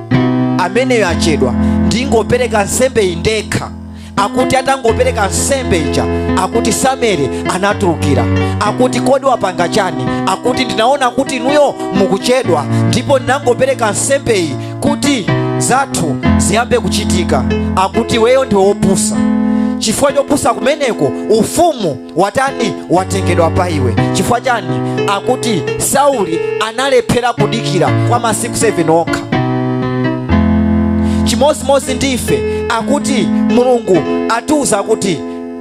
ameneyo achedwa ndingopereka nsembe iyi ndekha akuti atangopereka nsembe ija akuti samueli anatulukira akuti kodi wapanga chani akuti ndinaona kuti inuyo mukuchedwa ndipo ndinangopereka nsembe iyi kuti zathu ziyambe kuchitika akuti iweyo ndiwe wopusa chifukwa chopusa kumeneko ufumu watani watengedwa pa iwe chifukwa chani akuti sauli analephera kudikira kwa masiku 7 okha chimodzimodzi ndi ife akuti mulungu atiuza kuti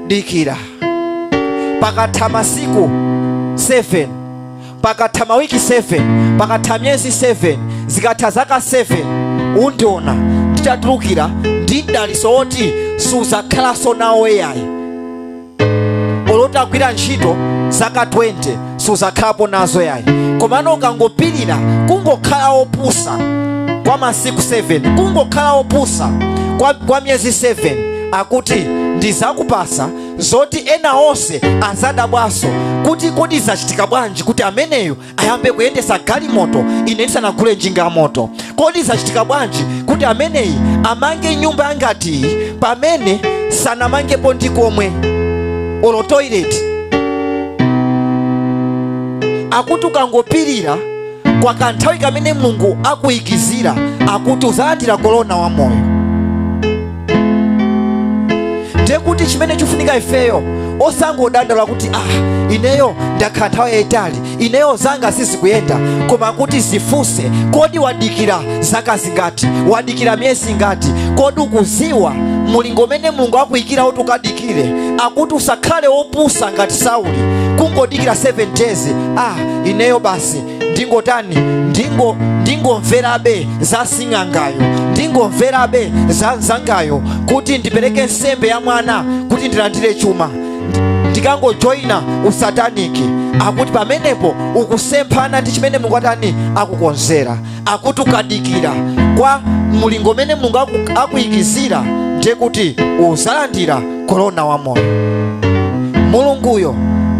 dikira pakatha masiku 7 pakatha mawiki 7 pakatha miyezi 7 zikatha zaka 7 undiona nditatulukira ndi mdaliso woti suzakhalanso nawo eyayi olo utagwira ntchito zaka 20 suzakhalapo nazo yayi komano ukangopirira kungokhala opusa kwa masiku 7 kungokhala opusa kwa, kwa miyezi 7 akuti ndizakupasa zoti ena onse azadabwanso kuti kodi zachitika bwanji kuti ameneyo ayambe kuyendesa galimoto ine ndisanagule njinga ya moto kodi zachitika bwanji kuti ameneyi amange nyumba yangati iyi pamene sanamangepo ndi komwe olo toilet akuti ukangopirira kwa kanthawi kamene mulungu akuyikizira akuti uzalandira korona wa moyo ndiye kuti chimene chifunika ifeyo osangodandaula kuti ah ineyo ndakhala nthawi yayitali ineyo zanga sizikuyenda koma kuti zifunse kodi wadikira zaka zingati wadikira miyezi ingati kodi ukuziwa mulingo umene mulungu akuyikira kuti ukadikire akuti usakhale wopusa ngati sauli kungodikira 7 days ah ineyo basi ndingotani ndingomverabe za sing'angayo ndingomverabe za nzangayo kuti ndipereke nsembe ya mwana kuti ndilandire chuma ndikangojoyina usataniki akuti pamenepo ukusemphana ndi chimene mulungu atani akukonzera akuti ukadikira kwa mulingo umene mulungu akuyikizira ndiye kuti uzalandira korona wa moyo mulunguyo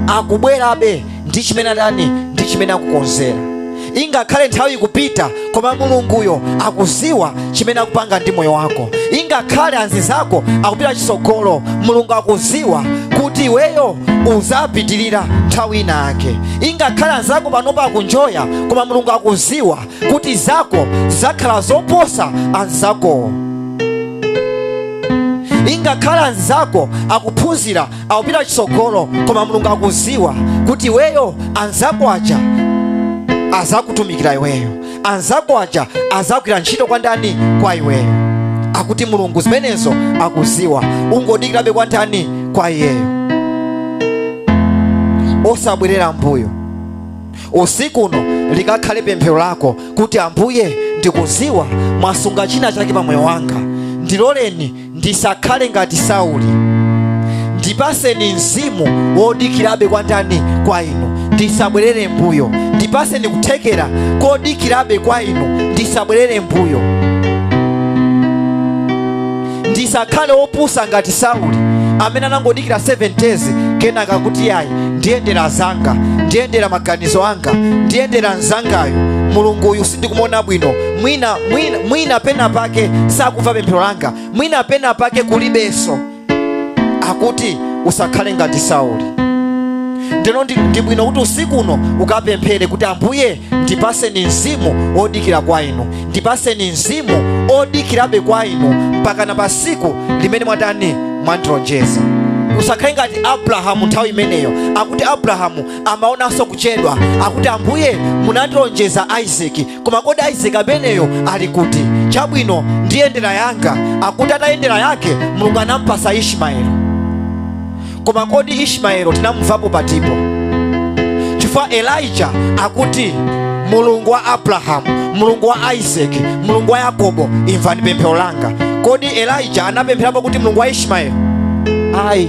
akubwerabe ndi chimene atani ndi chimene akukonzera ingakhale nthawi ikupita koma mulunguyo akuziwa chimene akupanga ndi moyo wako ingakhale anzizako akupita chisogolo mulungu akuziwa kuti iweyo uzapitirira nthawi ina yake ingakhale anzako panopa akunjoya koma mulungu akuziwa kuti zako zakhala zoposa anzakowo ingakhale anzizako akuphunzira akupita chitsogolo koma mulungu akuziwa kuti iweyo anzako aja azakutumikira iweyo anzako aja azagwira ntchito kwa ndani kwa iweyo akuti mulungu zimenezo akuziwa ungodikirabe kwa ndani kwa iyeyo osabwerera mbuyo usiku uno likakhale pemphero lako kuti ambuye ndikuziwa mwasunga china chake pa moyo wanga ndiloleni ndisakhale ngati Sauli. Ndipaseni mzimu wodikirabe kwa ndani? Kwa inu, ndisabwerere mbuyo. Ndipaseni kuthekera kodikirabe kwa inu, ndisabwerere mbuyo. Ndisakhale wopusa ngati Sauli amene anangodikira 7 days kenaka kuti yayi ndiyendera zanga ndiyendera maganizo anga ndiyendera nzanga yo mulungu uyu sindikumuona bwino mwina pena pake sakumva pemphero langa mwina pena pake kulibenso akuti usakhale ngati sauli ndeno ndi bwino kuti usiku uno ukapemphere kuti ambuye ndipaseni mzimu odikira kwa inu ndipaseni mzimu odikirabe kwa inu mpaka na pasiku limene mwatani mwandilonjeza usakhale ngati abrahamu nthawi imeneyo akuti abrahamu amaonanso kuchedwa akuti ambuye munandilonjeza isaki koma kodi isaki ameneyo ali kuti chabwino ndiyendera yanga akuti atayendera yake mulungu anampasa ishimaeli koma kodi ishimaeli tinamumvapo patipo chifukwa elija akuti mulungu wa abrahamu mulungu wa isaki mulungu wa yakobo imvani pemphero langa kodi elija anapempherapo kuti mulungu wa ishimaeli ayi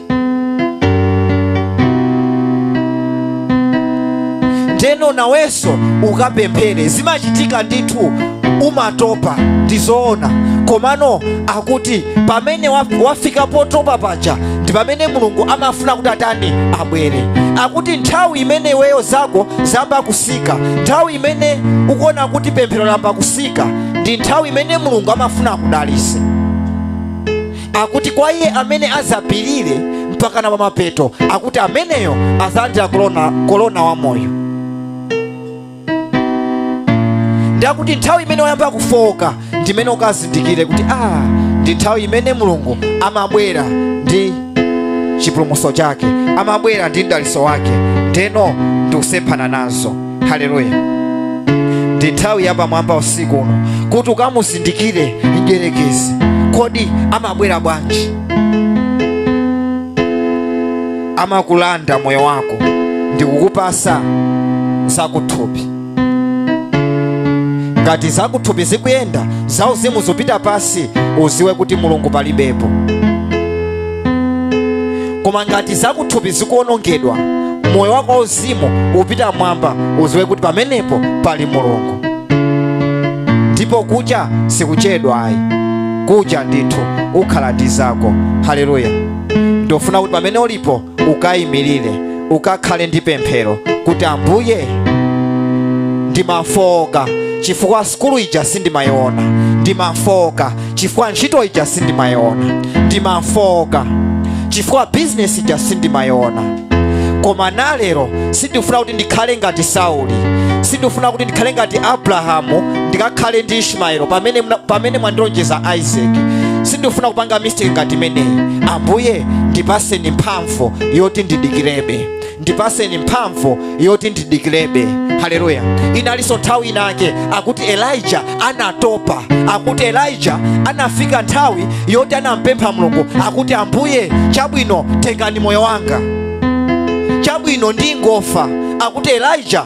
ndeno nawenso ukapemphere zimachitika ndithu umatopa ndizoona komano akuti pamene waf- wafika potopa paja ndi pamene mulungu amafuna kuti atani abwere akuti nthawi imene iweyo zako zamba kusika nthawi imene ukuona kuti pemphero lamba kusika ndi nthawi imene mulungu amafuna akudalise akuti kwa iye amene azapirire mpaka na pamapeto akuti ameneyo azalandira kolona wa moyo ndakuti nthawi imene wayamba kufowoka ndimene ukazindikire kuti ah ndi nthawi imene mulungu amabwera ndi chipulumutso chake amabwera ndi mdaliso wake ndeno ndikusemphana nazo haleluya ndi nthawi yapamwamba usiku uno kuti ukamuzindikire mdyerekezi kodi amabwera bwanji amakulanda moyo wako ndi kukupasa zakuthupi ngati zakuthupi zikuyenda zauzimu zikupita pasi uziwe kuti mulungu palibepo koma ngati zakuthupi zikuonongedwa moyo wako wauzimu upita mwamba uziwe kuti pamenepo pali mulungu ndipo kucha sikuchedwa ayi kucha ndithu ukhala ndi zako haleluya ndofuna kuti pamene ulipo ukayimirire ukakhale ndi pemphero kuti ambuye ndimafooka chifukwa sukulu ija sindimayiona ndimafooka chifukwa ntchito ija sindimayiona ndimafooka chifukwa bizinesi ija sindimayiona koma nalero sindifuna kuti ndikhale ngati sauli sindifuna kuti ndikhale ngati abrahamu ndikakhale ndi ishmaelo pamene mwandilonjeza isaac sindifuna kupanga mistake ngati imeneyi ambuye ndipaseni mphamvu yoti ndidikirebe ndipaseni mphamvu yoti ndidikirebe haleluya inalinso nthawi inake akuti elija anatopa akuti elija anafika nthawi yoti anampempha mulungu akuti ambuye chabwino tengani moyo wanga chabwino ndingofa akuti elija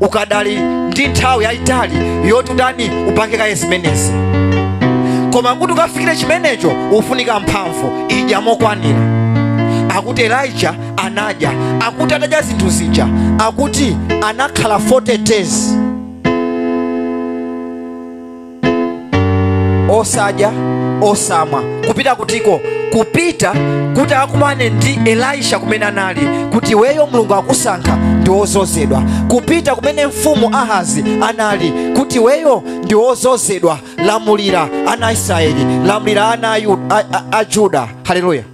ukadali ndi nthawi yayitali yoti utani upange kaye zimenezi koma kuti ukafikire chimenecho ufunika mphamvu idya mokwanira akuti elija anadya akuti atadya zinthu zija akuti anakhala 40 days osadya osamwa kupita kutiko kupita kuti akumane ndi elisha kumene anali kuti iweyo mulungu akusankha ndi wozozedwa kupita kumene mfumu ahazi anali kuti iweyo ndi wozozedwa lamulira ana a israeli lamulira ana a juda haleluya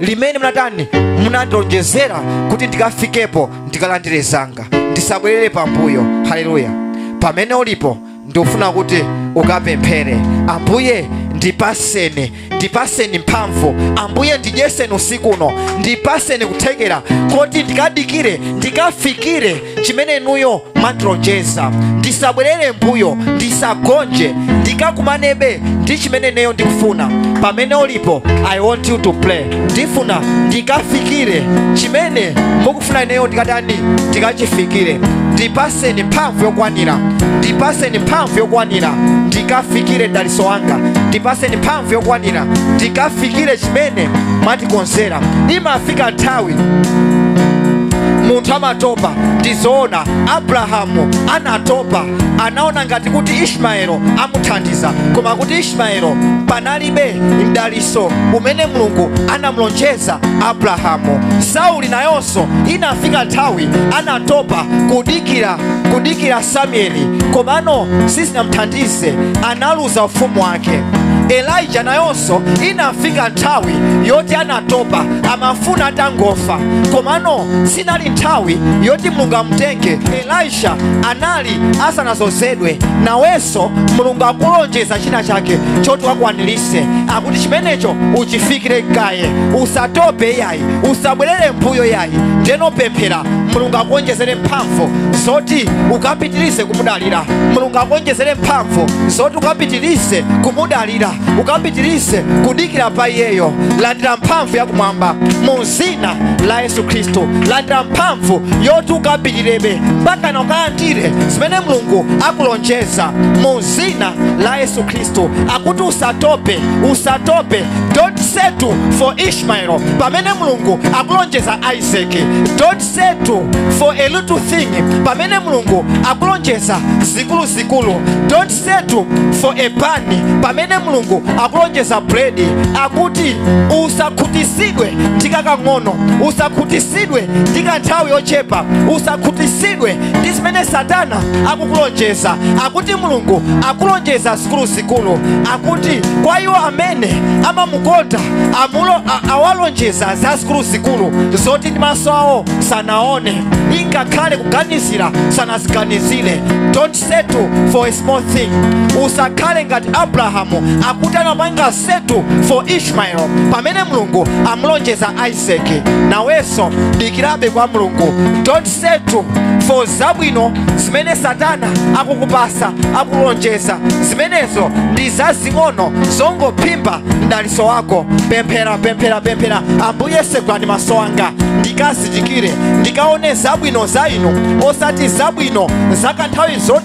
limene munatani munandilonjezera kuti ndikafikepo ndikalandire zanga ndisabwerere pambuyo haleluya pamene ulipo ndikufuna kuti ukapemphere ambuye ndipatseni ndipatseni mphamvu ambuye ndidyeseni usiku uno ndipaseni kuthekera koti ndikadikire ndikafikire chimene inuyo mwandilonjeza ndisabwerere mbuyo ndisagonje ndikakumanebe ndi chimene ineyo ndikufuna pamene ulipo i want you to pray ndifuna ndikafikire chimene mukufuna ineyo ndikatani ndikachifikire ndipaseni mphamvu yokwanira ndipaseni mphamvu yokwanira ndikafikire daliso wanga ndipaseni mphamvu yokwanira ndikafikire chimene mwatikonzera imafika nthawi munthu amatopa ndizoona abrahamu anatopa anaona ngati kuti ishmaelo amuthandiza koma kuti ishmaelo panalibe mdaliso umene mulungu anamlonjeza abrahamu sauli nayonso inafika nthawi anatopa kudikira samueli komano sizinamthandize analuza ufumu wake wake elija nayonso inafika nthawi yoti anatopa amafuna atangofa komano sinali nthawi yoti mulungu amutenge elisha anali asanazozedwe nawenso mulungu akulonjeza china chake choti wakwanilise akuti chimenecho uchifikire kaye usatope ya yayi usabwerere mbuyo yayi ndeno pemphera mulungu akuonjezere mphamvu zoti ukapitirize kumudalira mulungu akuonjezere mphamvu zoti ukapitirize kumudalira ukapitirize kudikira pa iyeyo landira mphamvu yakumwamba mu zina la yesu khristu landira mphamvu yoti ukapitirebe mpaka na ukalandire zimene mulungu akulonjeza mu zina la yesu khristu akuti usatope usatope don't settle for ish ishmaelo pamene mulungu akulonjeza isaki don't settle for a little thing pamene mulungu akulonjeza zikuluzikulu don't settle for a pani pamene mulungu akulonjeza bread akuti usakhutisidwe ndi kakang'ono usakhutisidwe ndi kanthawi yochepa usakhutisidwe ndi zimene satana akukulonjeza akuti mulungu akulonjeza zikuluzikulu zikulu akuti kwa iwo amene amamukonda amulo a- awalonjeza za zikulu zikulu zoti ndi maso awo sanaone ingakhale kuganizira sanaziganizire don't settle for a small thing usakhale ngati abrahamu akuti anapanga settle for ishmael pamene mulungu amulonjeza isaac isaac nawenso dikirabe kwa mulungu don't settle for zabwino zimene satana akukupasa akulonjeza zimenezo ndi zazing'ono zongophimba mdaliso wako pemphera pemphera pemphera ambuye segulani maso anga ndikazindikire ndikaone zabwino za inu osati zabwino zakanthawi zo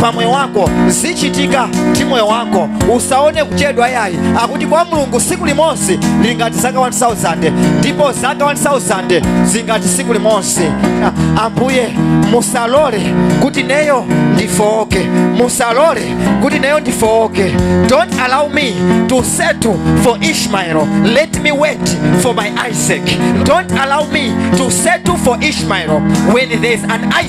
pa moyo wako zichitika ndi moyo wako usaone kuchedwa yayi akuti kwa mulungu siku limodzi lingati zaka 1000 ndipo zaka 1000 zingati siku limodzi Ah, ambuye musalole kuti neyo ndifooke musalole kuti neyo ndifooke don't allow me to settle for ishmael let me wait for my isaac don't allow me to settle for ishmael when there is an isaac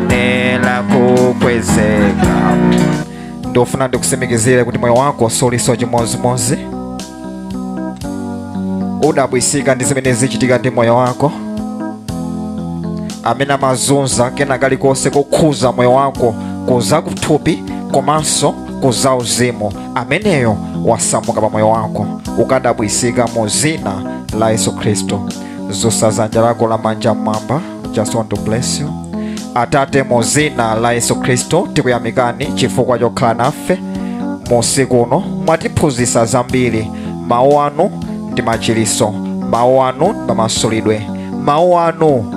nela kukwezeka ndofuna ndikusimikizire kuti moyo wako suliso chimozimozi udabwisika ndi zimene zichitika ndi moyo wako amene amazunza kena kalikonse kokhuza moyo wako kuza kuthupi komanso kuza uzimu ameneyo wasamuka pa moyo wako ukadabwisika mu zina la yesu khristu zusa zanja lako lamanja mmwamba just want to bless you atate mu zina la yesu khristu tikuyamikani chifukwa chokhala nafe mu usiku uno mwatiphunzitsa zambiri mawu anu ndi machiliso mawu anu ndi mamasulidwe mawu anu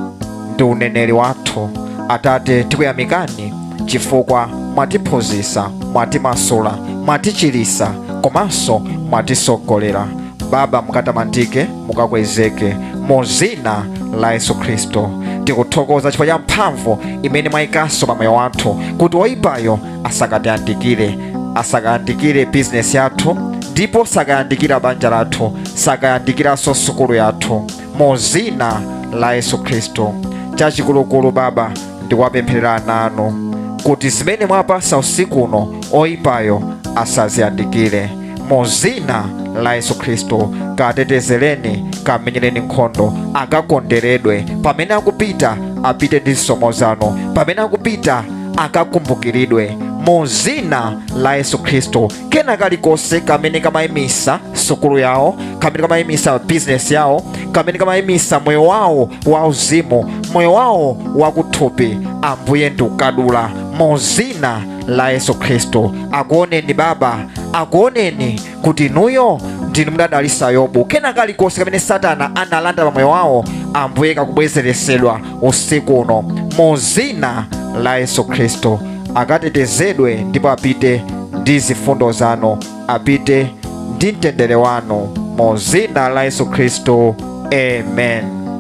ndi uneneri wathu atate tikuyamikani chifukwa mwatiphunzitsa mwatimasula mwatichilisa komanso mwatisogolera baba mukatamandike mukakwezeke mu zina la yesu khristu tikuthokoza chifukwa cha mphamvu imene mwayikanso pa moyo wathu kuti oyipayo asakatiyandikire asakayandikire bizinesi yathu ndipo sakayandikira banja lathu sakayandikiranso sukulu yathu mu zina la yesu khristu chachikulukulu baba ndikuwapempherera ana anu kuti zimene mwapasa usiku uno oyipayo asaziyandikire mu zina la yesu khristu katetezereni kamenyereni nkhondo akakonderedwe pamene akupita apite ndi zisomo zanu pamene akupita akakumbukiridwe mu zina la yesu khristu kena kalikonse kamene kamayimisa sukulu yawo kamene kamayimisa bizinesi yawo kamene kamayimisa moyo wawo wauzimu moyo wawo wakuthupi ambuye ndikukadula mu zina la yesu khristu akuoneni baba akuoneni kuti inuyo ndinu mudadalisa yobu kena kalikonse kamene satana analanda pa moyo wawo ambuye kakubwezeresedwa usiku uno mu zina la yesu khristu akatetezedwe ndipo apite ndi zifundo zanu apite ndi mtendere wanu mu zina la yesu khristu amen